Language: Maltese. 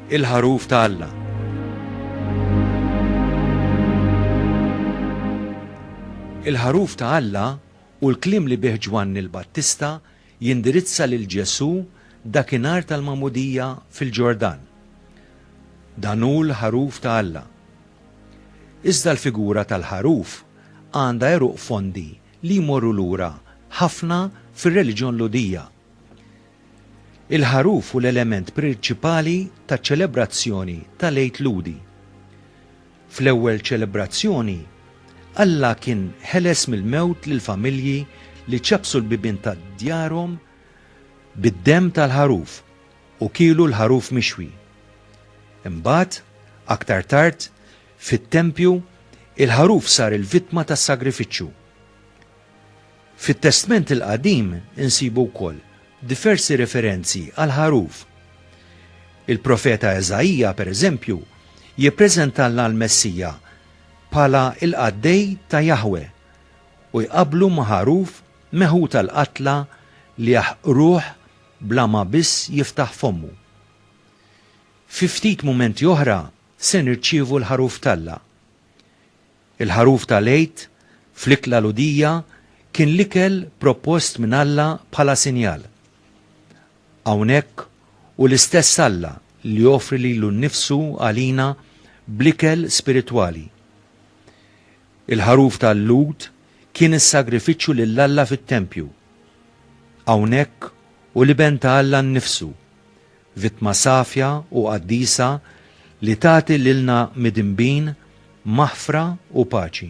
il-ħaruf ta' Alla. Il-ħaruf ta' Alla u l-klim li bih Ġwanni l-Battista jindirizza lil Ġesu dakinhar tal-Magħmudija fil-Ġordan. Dan hu l-ħaruf ta' Alla Iżda l-figura tal-ħaruf għandha għeruq fondi li jmorru lura ħafna fir-reliġjon Lhudija. Il-ħaruf hu l-element prinċipali taċ-ċelebrazzjoni tal-Għid Lhudi. Fl-ewwel ċelebrazzjoni, Alla kien ħeles mill-mewt lill-familji li ċappsu l-bibien ta' djarhom bid-demm tal-ħaruf. u kielu l-ħaruf mixwi. Imbagħad, aktar tard, fit-tempju, il-ħaruf sar il-vittma tas-sagrifiċċju. Fit-Testment il-Qadim insibu wkoll diversi referenzi għall-ħaruf. Il-profeta Eżaija, pereżempju, jippreżentalna l-Messija bħala l-qaddej ta' Jaħwe u jqabblu ma' ħaruf meħud għall-qatla li jaħqruh bla ma biss jiftaħ fommu. Fi ftit mumenti oħra se nirċievu l-Ħaruf t'Alla. Il-Ħaruf ta' l-Għid fl-Ikla l-Għudija kien l-ikel propost minn Alla bħala sinjal. Hawnhekk hu l-istess Alla li joffri lilu nnifsu għalina bl-ikel spiritwali. Il-ħaruf tal-Lhud kien is-sagrifiċċju lil Alla fit-tempju. Hawnhekk hu l-Iben ta' Alla nnifsu, vittma safja u qaddisa li tagħti lilna midinbin maħfra u paċi.